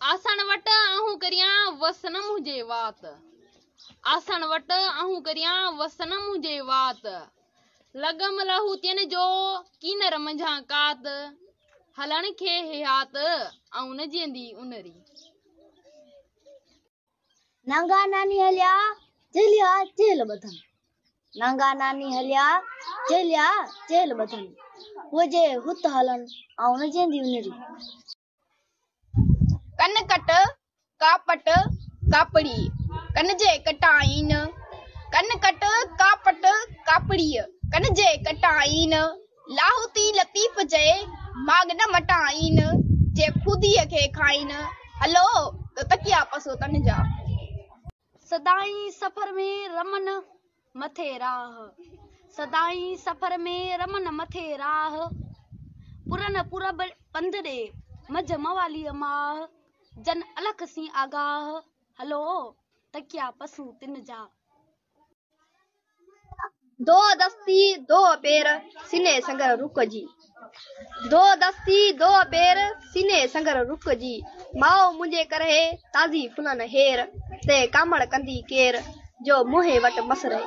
آسڻ وٽ آهون ڪريان وس نه منهنجي وات آسڻ وٽ آهون ڪريان وس نه منهنجي وات لڳم لاهوتين جو ڪينر منجهان ڪات هلڻ کي هيات آئون نه جيندي انري نانگا ناني هليا چيلهيا چيلهه ٻڌڻ نانگا ناني هليا چيلهيا چيلهه ٻڌڻ هو جي هت هلن آئون نه جيندي انري. ڪن ڪٽ ڪاپٽ ڪاپڙي ڪن جي ڪٽائين ڪن ڪٽ ڪاپٽ ڪاپڙي ڪن جي ڪٽائين. لاهوتي لطيف چئي، ماڳ نه مٽائين، جي خوديء کي کائين، هلو ته تڪيا پسو تن جا. سدائين سفر ۾ رمن مٿي راهه، سدائين سفر ۾ رمن مٿي راهه، پرن پورب پنڌ ڏي، مجهه مواليء ماهه، جن الخ سين آگاهه، هلو تڪيا پسو تن جا. دو دستي دو پير سيني سنگر رک جي دو دستي دو پير سيني سنگر رک جي ماء منهنجي ڪرهي تازي ڦلن هير تي ڪامڙ ڪندي ڪير جو منهي وٽ مس رهي